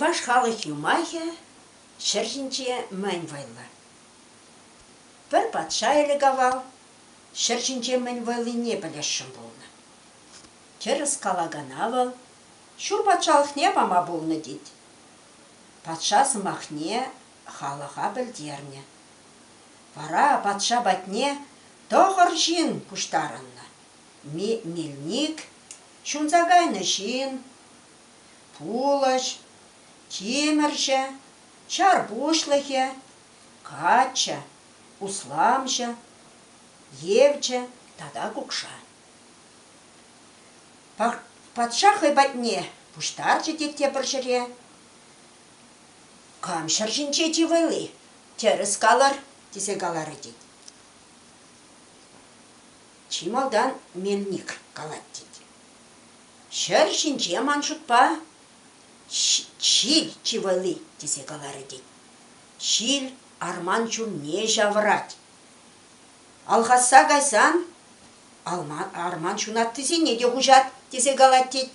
Чӑваш халӑх юмахӗ ҫӗр ҫинче мӗн вӑйлӑ? Пӗр патша ӗлӗк-авал ҫӗр ҫинче мӗн вӑйлине пӗлесшӗн пулнӑ. Тӗрӗс калакана вӑл ҫур патшалӑхне пама пулнӑ тет. Патша сӑмахне халӑха пӗлтернӗ. Вара патша патне тӑхӑр ҫын пуҫтарӑннӑ. Мельник, ҫунса кайнӑ ҫын, пулӑҫ, тимӗрҫӗ, ҫар пуҫлӑхӗ, каччӑ, усламҫӑ, евчӗ тата кукша. Патша хӑй патне пуҫтарчӗ те тепӗр ҫӗре. Кам ҫӗр ҫинче тивӗли, тӗрӗс калӑр, тесе каларӗ тет. чи малтан Мельник калать тет. Ҫӗр ҫинче ман шутпа ҫил чи вӑйли тесе каларӗ тет. Ҫил арман чунне ҫавӑрать. Алхасса кайсан арман ҫунаттисене те хуҫать тесе калать тет.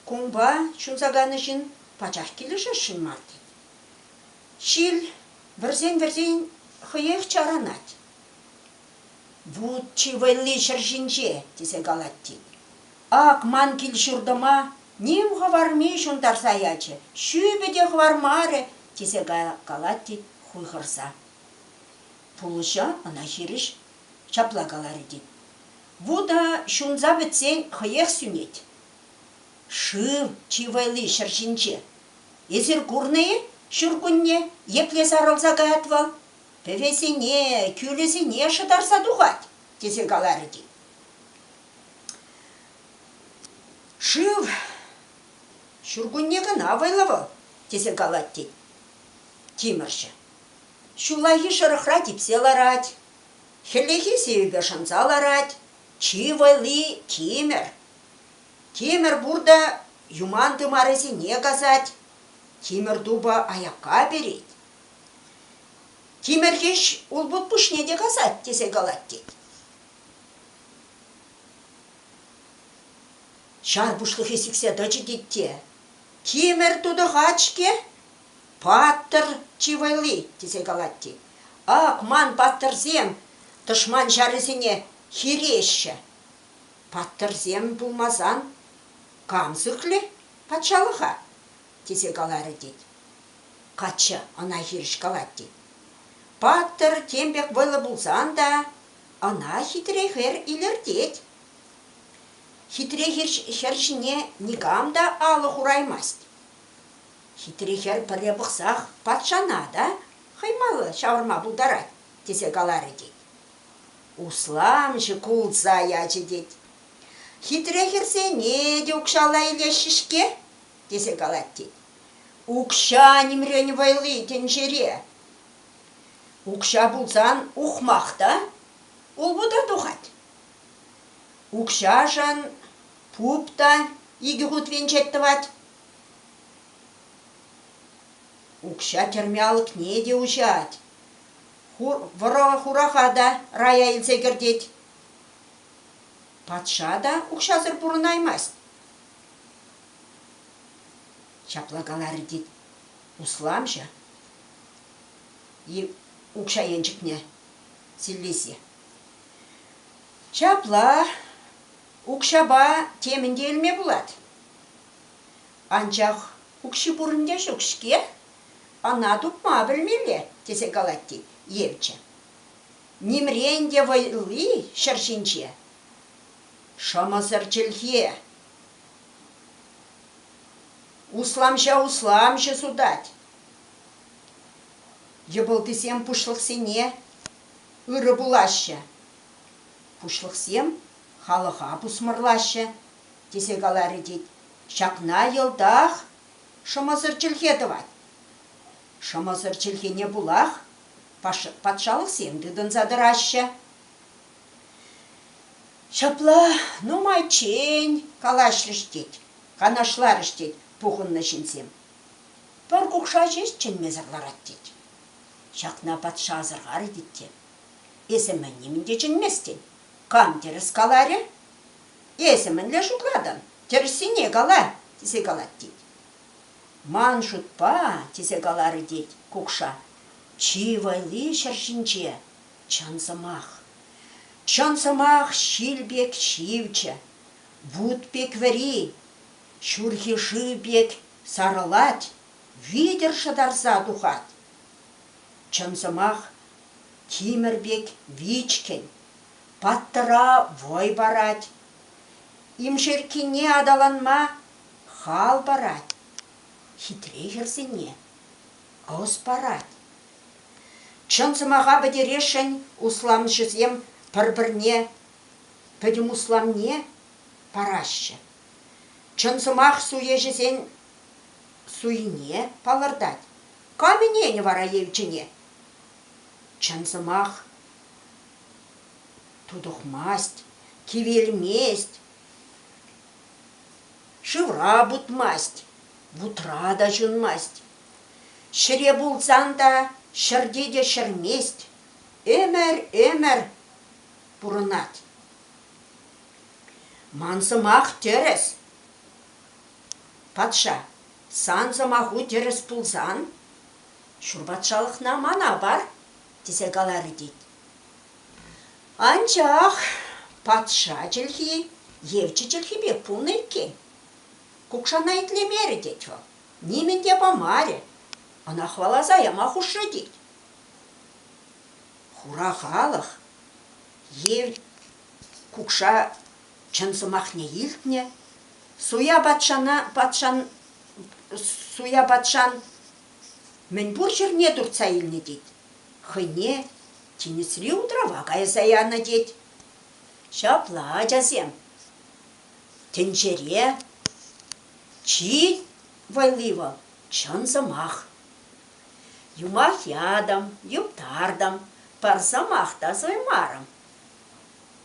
Кунпа ҫунса кайнӑ ҫын пачах килӗшесшӗн мар тет. Ҫил вӗрсен-вӗрсен хӑех чаранать. Вут чи вӑйлли ҫӗр ҫинче, тесе калать тет. Ак ман кил-ҫуртӑма ним хӑварми ҫунтарса ячӗ, ҫӳпӗ те хӑвармарӗ, тесе калать тет хуйхӑрса. Пулӑҫа ӑна хирӗҫ ҫапла каларӗ тет. Вута ҫунса пӗтсен хӑех сӳнет. Шыв чи вӑйлли ҫӗр ҫинче. Эсир курнӑ-и ҫуркунне епле сарӑлса каять вӑл? пӗвесене, кӳлӗсене шӑтарса тухать, тесе каларӗ те. Шыв ҫуркунне кӑна вӑйлӑ вӑл, тесе калать тет тимӗрҫӗ. Ҫуллахи шӑрӑхра типсе ларать, хӗллехи сивӗпе шӑнса ларать, чи вӑйли тимӗр. Тимӗр пур та юман тымарӗсене касать, тимӗр тупӑ аякка перет, Тимӗрхӗҫ улпут пуҫне те касать тесе калать тет. Ҫар пуҫлӑхӗ сиксе тӑчӗ тет те. Тимӗр тутӑхать-ҫке, паттӑр чи вӑйли, тесе калать тет. Ак ман паттӑрсем тӑшман ҫарӗсене хиреҫҫӗ. Паттӑрсем пулмасан кам сыхлӗ патшалӑха? тесе каларӗ тет. Каччӑ ӑна хирӗҫ калать тет. Паттӑр тем пек вӑйлӑ пулсан та ӑна хитре хӗр илӗртет. Хитре хӗр ҫине никам та алӑ хураймасть. Хитре хӗр пӗрре пӑхсах патшана та хӑймалла ҫавӑрма пултарать, тесе каларӗ тет. Усламҫӑ кулса ячӗ тет. Хитре хӗрсене те укҫалла илеҫҫӗ-ҫке, тесе калать тет. Укҫа нимрен вӑйли тӗнчере. Укҫа пулсан ухмах та улпута тухать. Укҫашӑн пуп та икӗ хут венчет тӑвать. Укҫа тӗрме алӑкне те уҫать. Вӑраха та рая илсе кӗртет. Патша та укҫасӑр пурӑнаймасть. Ҫапла каларӗ тет усламҫӑ и укҫа енчӗкне силлесе. Ҫапла укҫапа темӗн те илме пулать. Анчах укҫи пурӑн те ҫук-ҫке, ӑна тупма пӗлмелле, тесе калать тет евчӗ. Нимрен те вӑйлли ҫӗр ҫинче Шӑмӑсӑр чӗлхе. Усламҫа усламҫӑ сутать. Йӑпӑлтисем пуҫлӑхсене ырӑ пулаҫҫӗ. Пуҫлӑхсем халӑха пусмӑрлаҫҫӗ, тесе каларӗ тет. Ҫакна йӑлтах шӑмӑсӑр чӗлхе тӑвать. Шӑмӑсӑр чӗлхене пулах патшалӑхсем тытӑнса тӑраҫҫӗ. Ҫапла нумайччен калаҫрӗҫ тет, канашларӗҫ тет пухӑннӑ ҫынсем. Пӗр кукша ҫеҫ чӗнмесӗр ларать тет. Ҫакна патша асӑрхарӗ тет те. Эсӗ мӗн нимӗн те чӗнместӗн. Кам тӗрӗс каларӗ? Эсӗ мӗнле шутлатӑн? Тӗрӗссине кала, тесе калать тет. Ман шутпа, тесе каларӗ тет кукша, чи вӑйли ҫӗр ҫинче, Чӑн сӑмах. Чӑн сӑмах ҫил пек ҫивчӗ, вут пек вӗри, ҫурхи шыв пек сарӑлать, витӗр шӑтарса тухать. Чӑн сӑмах тимӗр пек вичкӗн, паттӑра вӑй парать. Имшерккине аталанма хал парать, хитре хӗрсене ӑс парать. Чӑн сӑмаха пӗтересшӗн усламҫӑсем пӗр-пӗрне пӗтӗм усламне параҫҫӗ. Чӑн сӑмах суеҫӗсен суйине палӑртать. Кам ӗненӗ вара Елчӗне? Чӑн сӑмах тутӑхмасть, кивелмест, шывра путмасть, вутра та ҫунмасть. Ҫӗре пулсан та ҫӗрте те ҫӗрмест, ӗмӗр, ӗмӗр пурӑнать. Ман сӑмах тӗрӗс. Патша, сан сӑмаху тӗрӗс пулсан, ҫур патшалӑхна мана пар, тесе каларӗ тет. Анчах патша чӗлхи евчӗ чӗлхи пек пулнӑ иккен. Кукшана итлемерӗ тет вӑл. нимӗн те памарӗ. Ӑна хӑваласа яма хушрӗ тет. Хура халӑх ев кукша чӑн сӑмахне илтнӗ, суя патшана патшан суя патшан мӗнпур ҫӗрне туртса илнӗ тет. Хӑйне тинӗсри утрава кайса янӑ тет. Ҫапла, ачасем, тӗнчере Чи валли вӑл чӑн сӑмах. Юмах ятӑм, юптартӑм, пӗр сӑмах та суймарӑм.